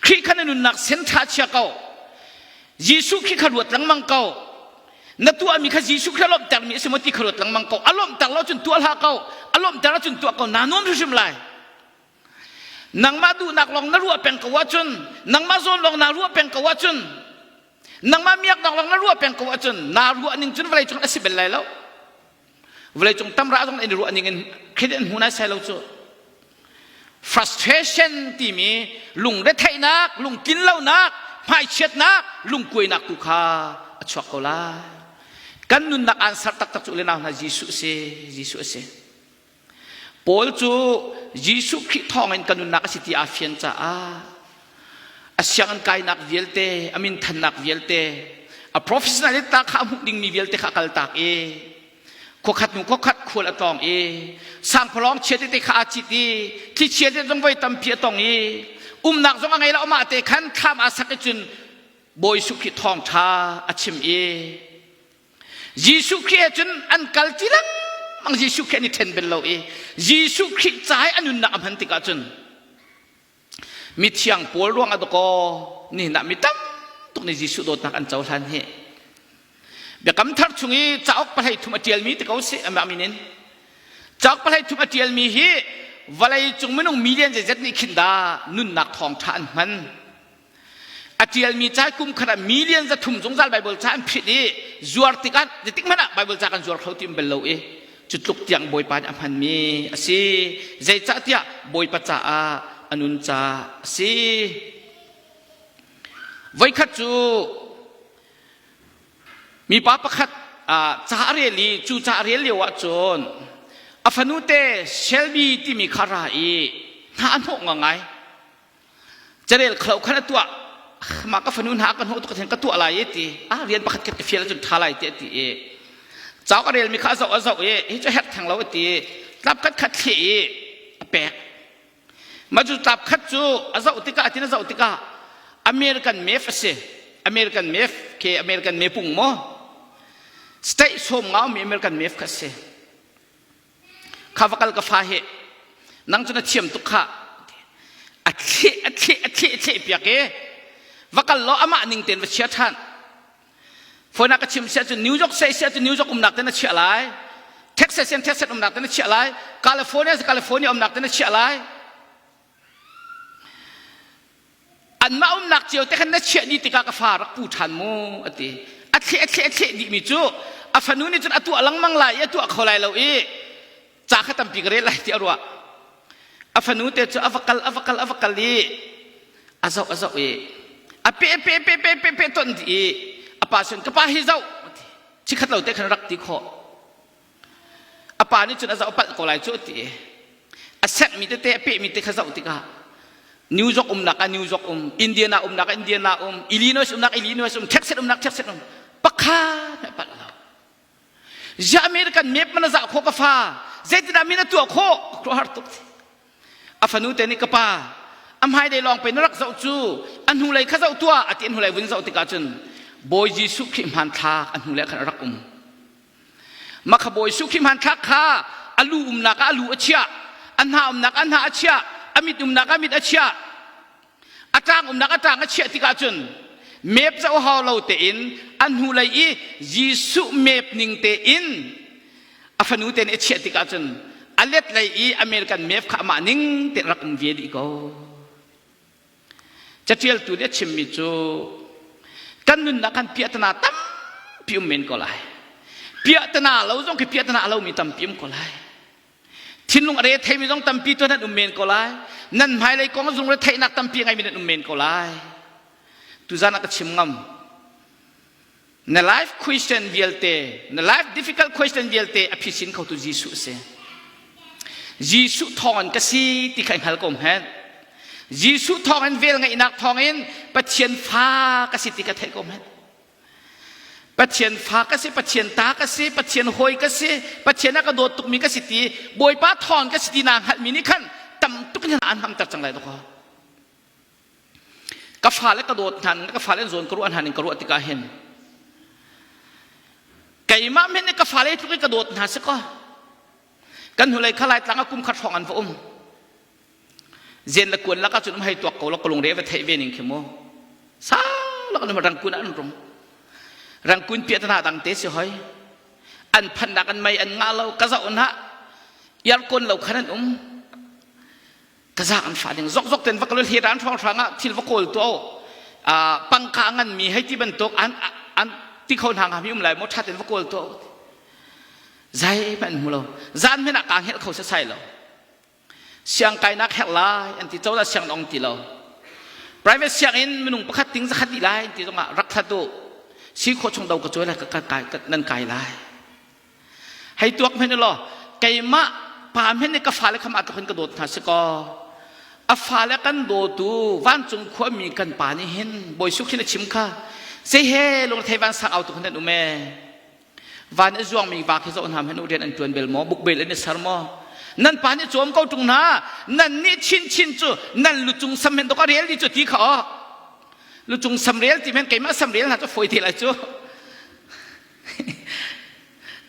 kri khan nunnak sen tha chia ko jesu khi kha ruat langmang ko na tu ami kha jesu kha lom ter mi si mo ti kha ruat langmang ko alom ter lo chun tu ala ko alom ter chun tu ko na non hrim lai nangmah duhnak lawng na ruah peng ko ahcun nangmah zawn lawng naa ruah peng ko ahcun nangmah miaknak lawng na ruah peng ko ahcun naa ruah ning cun vawlei cung a si bel lai lo vawlei cung tamra zong in ruah ning in khit in hmu nai sai lo cu frustration timi lungretheihnak lungtlinlonak hmaichiatnak lungkuainak tu kha a chuak ko lai kan nunnak answer taktak cu le nau hna Jesuh si Jesuh si Paul cu Jesuh Khrih thawngin ka nunnak a si ti aa fian caah a sianginn kainak vialte, a min thannak vialte, a professionalita kha a hmuh dingmi vialte kha a kaltak i khuakhat hnu khuakhat khual a tawng i sangphawlawng chia tete kha aa cit i thlichia te zong voi tampi a tong i umnak zong a ngei lo mah te khan thlam aa sak i cun Bawi Jesuh Khrih thawngṭha a chim i Jesuh Khrih he cun an kal ti lengmang Jesuh Khrih an i ṭhen bel lo i Jesuh Khrih ca i a nunnak a hman tikah cun mithiang Paul ruang a dawkaw nihin ah mi tam tuk nih Jesuh dawtnak an cohlan hi biakam thar chung i cauk pahlei thum a ṭialmi ti ko si amah min in cauk pahlei thum a ṭialmi hi vawlei cung minung million zeizat nih khin dah nunnak thawng ṭha an hman A ṭialmi ca kum khat ah million za thum zungzal Baibal ca an phit i zuar tikah zetik hmanh ah Baibal ca kan zuar kho ti um bel lo i cu tluk tiang Bawipa nih a hmanmi a si. Zeicahtiah Bawipa caah a nun ca a si. Voikhat cu mipa pakhat ca a rel i cu ca a rel lio ahcun a fanu te Shelby timi kha ra i hna a hnawh ngangai. carel khlo khan a tuah mah ka fanu hna ka hnu tuk theng ka tuah lai ti a rian pakhat khat ka fial cun tha lai ti ti e chau ka rel mi kha zau a zau e hi chu herh theng lo ti tlap khat khat thli i a pek ma chu tlap khat chu a zau tika tin a zau tika american mef a si american mef ke american mepung mo state som ngau mi american mef kha si kha va kal ka fa he nang cu na thiam tuk kha a thleh a thleh a thleh a thleh piak e va kal law amah ning tein va chia ṭhan phone ka chim sia cu New York sai sia cu New York umnak te na chiah lai Texas in Texas umnak te na chiah lai California California umnak te na chiah lai anmah umnak cio te khan na chiah ni tikah ka fa rak pu ṭhan mu a ti a thleh a thleh a thleh dihmi cu a fanu nih cun a tuah lengmang lai i a tuah kho lai lo i ca kha tampi ka rel lai ti a ruah a fanu te cu a va kal a va kal a va kal i a zoh a zoh i a pe pe pe pe pe pe ton dih i a pa sun ka pa hi zoh chikhat lo te khan rak ti khawh a pa nih cun a zoh palh ko lai cu ti a sekmi tete a pehmi te kha zoh tikah new york umnak ah new york um indiana umnak ah indiana um illinois umnak illinois um texas umnak texas um pakhat mai palh lo ziah american map man zah kho ka fa zeitinah min a tuah kho ka har tuk a fanu te nih ka pa a hmai dei lawng pe na rak zoh cu a hnu lei kha zoh tuah a ti an hnulei vun zoh tikah cun bawi jesuh khrih hmanthlak a hnu lei khan a rak um Makhabawi suk hi hmanthlak kha a lu umnak ah a lu a chiah a hna umnak a hna a chiah a mit umnak a mit a chiah a tlang umnak a tlang a chiah tikah cun mep co hau lo tein a hnu lei i Jesuh mep ning tein a fanu te nih a chiah tikah cun a let lei i American mep kha amah ning tein rak um ve dih ko Caṭialtu nih a chimmi cu kan nunnak khan piahtana tampi um men ko lai. Piahtana lo zong khi piahtana a lomi tampi um ko lai. Thinlung a re theimi zong tampi tu nan um men ko lai. Nan hmailei kong zung le theihnak tampi ngeimi nan um men ko lai. Tuzan ah ka chim ngam. Na life question vialte, na life difficult question vialte a phisin khotu Jesuh a si. Jesuh thawng in ka si ti kha i hngal ko hmet. Jesuh thawng in vel ngaihnak thawng in Pathian fa ka si ti ka theih ko hmet. Pathian fa ka si, Pathian ta ka si, Pathian hoi ka si, Pathian a ka dawt tukmi ka si ti, Bawipa thawng ka si ti naa hngalhmi nih khan tam tuk in an hamter cang lai dawk ka fale ka dawt hna ka fale an zawn ka ruah hna ning ka ruah tikah hin keimah men ka fale tluk i ka dawt hna si ko kan hnulei khalai tlang a kum khat hrawng an va um zen la kuan laka cun um hei tuak ko lo ka lungre va theih ve ning khi mu sa lo an rang kun an rum rang kun pia tana dang te si hoi an phan dak an mai an nga lo ka za on ha yar kon lo khan an um taza an fah ding zokzok ten va kal hlir an hrang hrang ah thil va kawl tu pangka ngan mi hei ti bantuk an an ti kho hna mi um lai mo thaten va kawl tu zai man mu lo zan men ah ka hel kho sai lo siang kai nak her lai an ti to da siang dong ti lo private siang in minung pakhat ting zakhat di lai ti zongah rak thatu si kho chung do ka choi lai ka kai nan kai lai hei tuak hmenh law keimah pa hmenh nih ka fale kha mah khin ka dawt hna si kaw a fale kan dawtu vancung khuami kan pa nih hin bawi suk hin a chim kha sei he lungthei van sang au tu khan um e van i zuang mi va khi zo hna hnu rian an tuan bel maw buk bel in sar maw nan pa nih cawm ko tung na nan nih chin chin cu nan lu cung sam men to ka rel di cu ti kha o lu cung sam rel ti men keimah sam rel na cu foi te lai cu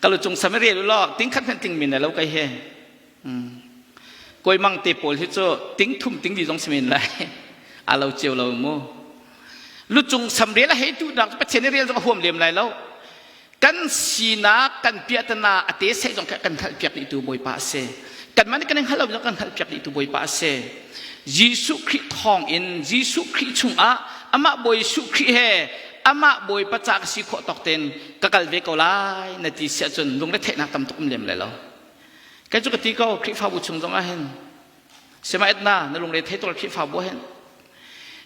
kalau cung samaria lu lok ting khat khan ting min lo kai he koi mang te pawl hi chu ting thum ting di zong simin lai alo chiu lo mu lu cung samria la he tu dang pathian ni real zong huam lem lai lo kan sinak kan piatana ate sai zong kan hal piak di tu boi pa se kan man kan hal lo kan hal piak di tu boi pa se Jesu Khrih thong in Jesu Khrih chungah ama boi Jesu Khrih he amah bawipa ca ka si khawh tawk tein ka kal ve ko lai na ti si ahcun lungretheihnak tam tuk um lem lai lo kai cu ka ti ko khrihfabu chung zong ah hin semaetna na lungre thei tuk khrihfabu hin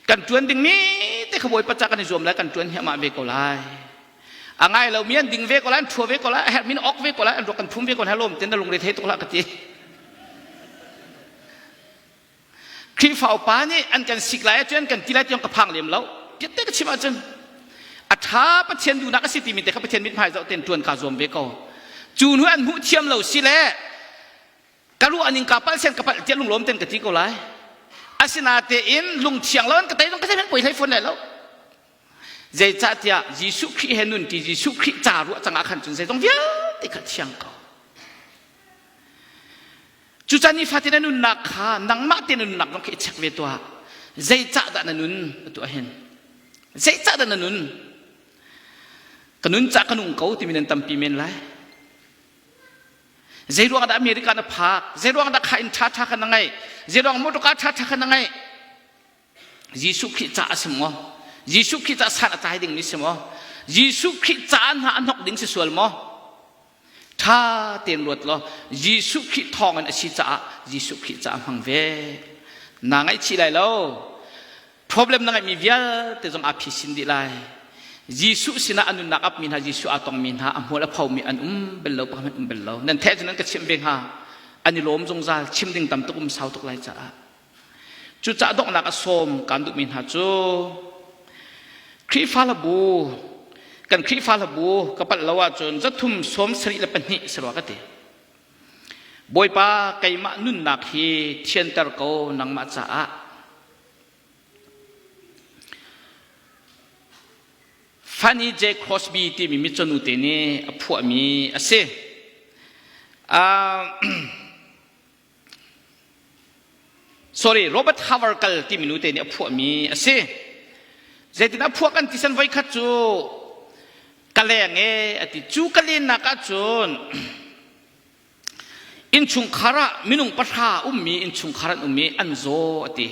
kan tuan dingmi te kha bawipa ca kan i zuam lai kan tuan hiamah ve ko lai a ngai lo mi an ding ve ko lai an thua ve ko lai a herh min ok ve ko lai an ruak kan phum ve ko lai lom ten na lungre thei tuk la ka ti Khrihfa upa nih an kan sik lai ahcun kan ti lai tiong ka phang lem lo. Tiatte ka chim ahcun a ṭha Pathian duhnak a si timi te kha Pathian mithmai zoh ten ṭuan ka zuam ve ko. Cu hnu an hmuh thiam lo si le ka ruah ning ka palh sen ka palh tiah lunglawm ten ka ti ko lai. Asinatein lungthiang lo an ka tei zong ka thei poi hlei fawn lai lo. Zeicahtiah Jesuh Khrih he nun ṭi Jesuh Khrih ca ruah cangah khan cun zeizong vialte kha thiang ko. Cucan nifatin a nunnak kha nangmah te na nunnak zong kha i check ve tuah. Zeicah dah na nun atu ahhin? Zeicah dah na nun? Ka nun cah ka nung ko timi nan tampi men lai. Zei ruang dah America na phak? Zei ruang dah kha inn ṭhaṭha kha na ngeih? Zei ruang motor car ṭhaṭha kha na ngeih? Jesuh Khrih ca a si maw? Jesuh Khrih ca san a tlai dingmi si maw? Jesuh Khrih ca hna a hnok ding si sual maw? Ṭha tein luat law Jesuh Khrih thawngin a si caah Jesuh Khrih ca a hmang ve. Naa ngaihchih lai lo. Problem na ngeihmi vialte zong aa phisin dih lai. Jesuh sinah a nunnak apmi hna, Jesuh aa tongmi hna, a hmual a phomi an um bel lo, pakhat hmanh um bel lo. Nan theh cu nan ka chimh ve hnga. An i lawm zungzal. Chim ding tam tuk um sau tuk lai caah. Cucah donghnak a sawm kan duhmi hna cu Khrihfa labu kan Khrihfa labu ka palh lo ahcun zathum sawm sarih le pahnih si rua ka ti. Bawipa keimah nunnak hi thianter ko nangmah caah. Fanny J. Crosby timi mitsonu te nih a phuahmi a si. Uh, sorry Robert Havergal timi nute nih a phuahmi a si zeitin a phuah kan ti san voi khat cu ka leng e a ti cu ka lennak ahcun innchungkhar ah minung pahra ummi innchungkhar an um i an zaw a ti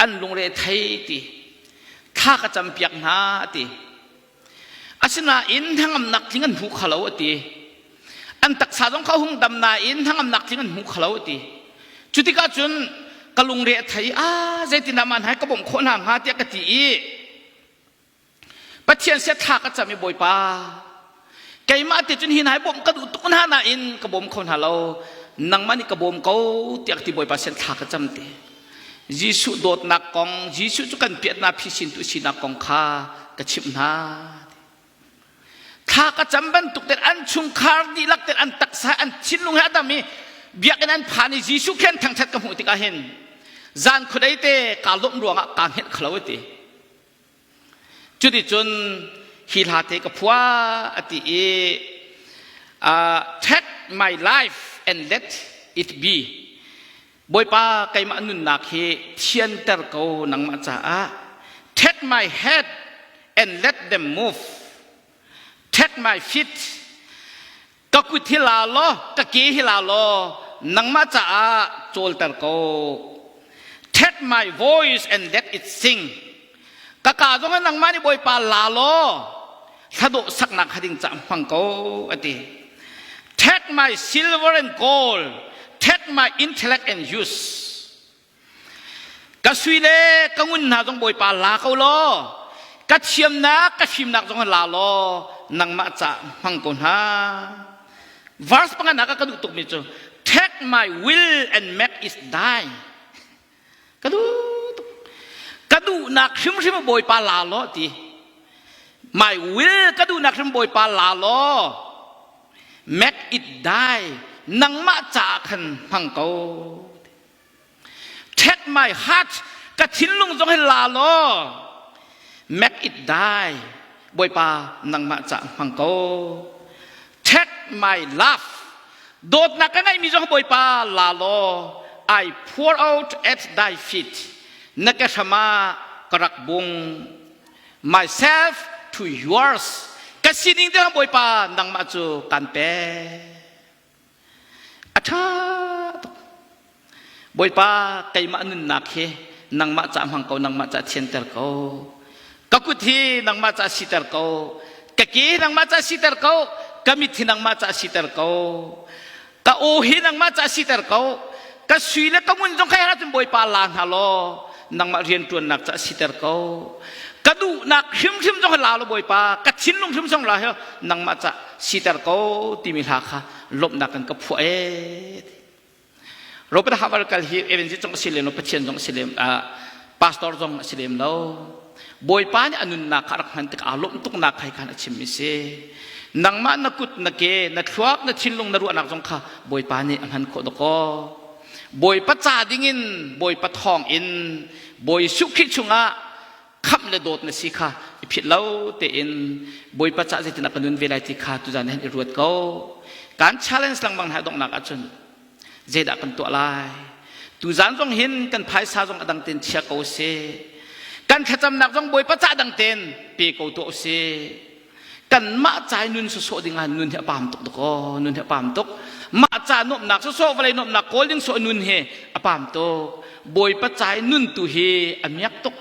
an lungre thei ti thla ka campiak hna a ti Asinain hnangamnak tling an hmu kho lo a ti. An taksa zong kha hung dam nain hnangamnak tling an hmu kho lo a ti. Cu tikah cun ka lungre a thei, ah zeitindah man hai ka bawmh khawh hna hnga tiah ka ti i Pathian sia thla ka cam i Bawipa keimah ti cun hi nai bawmh ka duh tuk hna nain ka bawm kho hna lo nangmah nih ka bawm ko tiah ka ti Bawipa sian thla ka cam te Jesuh dawtnak kong, Jesuh cu kan piatnak phisintu sinak kong kha ka chimh hna. Thla ka cam bantuk tel an chungkhar dihlak tel an taksa an thinlung he a dam i biakinn an phan i Jesuh khen thangthat ka hmuh tikah hin zan khudei te kaa lawmh ruangah kaa hmet khalo ete Cuticun hi hlate ka phua a ti i uh, take my life and let it be. Bawipa keimah nunnak hi thianter ko nangmah caah. Take my head and let them move. Take my feet ka kut hi la law ka ke hi la law nangmah caah cawlter ko Take my voice and let it sing ka ka zong in nangmah nih bawipa la law thladawh saknak hading ca hmang ko ati take my silver and gold take my intellect and use ka sui le ka ngun hna zong bawipa la ko law ka thiamnak ka fimnak zong la law nangmah ca hmang ko hna verse panganak ka duh tukmi cu take my will and make is thine ka duh tuk ka duhnak hrimhrim bawipa la law ti my will ka duhnak hrim bawipa la law make it die nangmah ca khan hmang ko Take my heart ka thinlung zong hi la law make it die bawipa nangmah ca hmang ko take my love dawtnak ka ngeihmi zong bawipa la law I pour out at thy feet na ke hrama ka rak bung myself to yours ka sining te bawipa nangmah cu kan pe A ṭha tuk. Bawipa keimah nunnak hi nangmah ca hmang ko, nangmah ca thianter ko. Ka kut hi nangmah ca siter ko. Ka ke nangmah ca siter ko. Ka mit hi nangmah ca siter ko. Ka aw hi nangmah ca siter ko. Ka sui le ka ngun zong khai ahcun Bawipa la hna law nangmah rianṭuannak ca siter ko. Ka duhnak hrimhrim zong la law Bawipa, ka thinlung hrimhrim zong la hi nangmah ca siter ko timi hla kha lawmhnak kan ka phuah e robert havel kal hi evangelist zong si lem lo pathian zong si lem pastor zong si lem lo bawipa nih a nunnak kha rak hman tik aa lawmh tuknak kai khan a chimmi si nangmah na kut na ke na thluak na thinlung na ruahnak zong kha bawipa nih a hman khawh dako bawipa ca dingin bawipa thawng in bawi sukhi chungah khamh le dawt na si kha i philh lo tein bawipa cah zeitin a ka nun ve lai ti kha tuzan han i ruat ko kan challenge langbang hna donghnak ahcun zeidah kan tuah lai tuzan zong hin kan phaisa zong a dang tein chia ko si kan thlacamnak zong bawipa cah dang tein pe ko tuah u si kanmah ca i nun sawsawh ding ah nun hi a pam tuk dakaw nun hi a pam tuk mah ca nuamnak sawsawh vawlei nuamnak kawl ding sawh nun hi a pam tuk bawipa ca i nun tu hi a miak tuk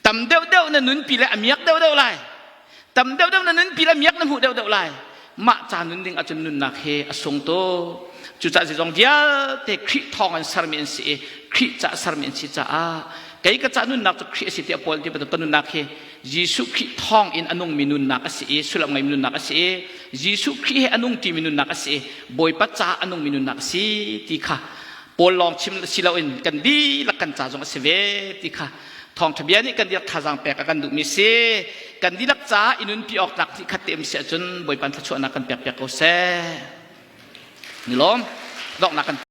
tam deuh deuh na nunpi lai a miak deuh deuh lai tam deuh deuh na nunpi lai miak na hmuh deuh deuh lai mah ca nun ding ahcun nunnak hi a sung tu cucah zong vialte khrih thawng an sermi an si i khrih ca a sermi an si caah kei ka ca nunnak cu khrih a si tiah paul ti bantuk ka nunnak hi Jesuh Khrih thawngin a nungmi nunnak a si i sullam ngeimi nunnak a si i Jesuh Khrih he a nung timi nunnak a si i Bawipa caah a nungmi nunnak a si ti kha Paul lawng chim si loin kan dihlak kan ca zong a si ve ti kha Thawngṭha bia nih kan dirh thazaang pek a kan duhmi si kan dihlak caah i nunpi awk tlak ti khat te um si ahcun Bawipa thluachuahnak kan pek piak ko seh. Ni lawm donghnak kan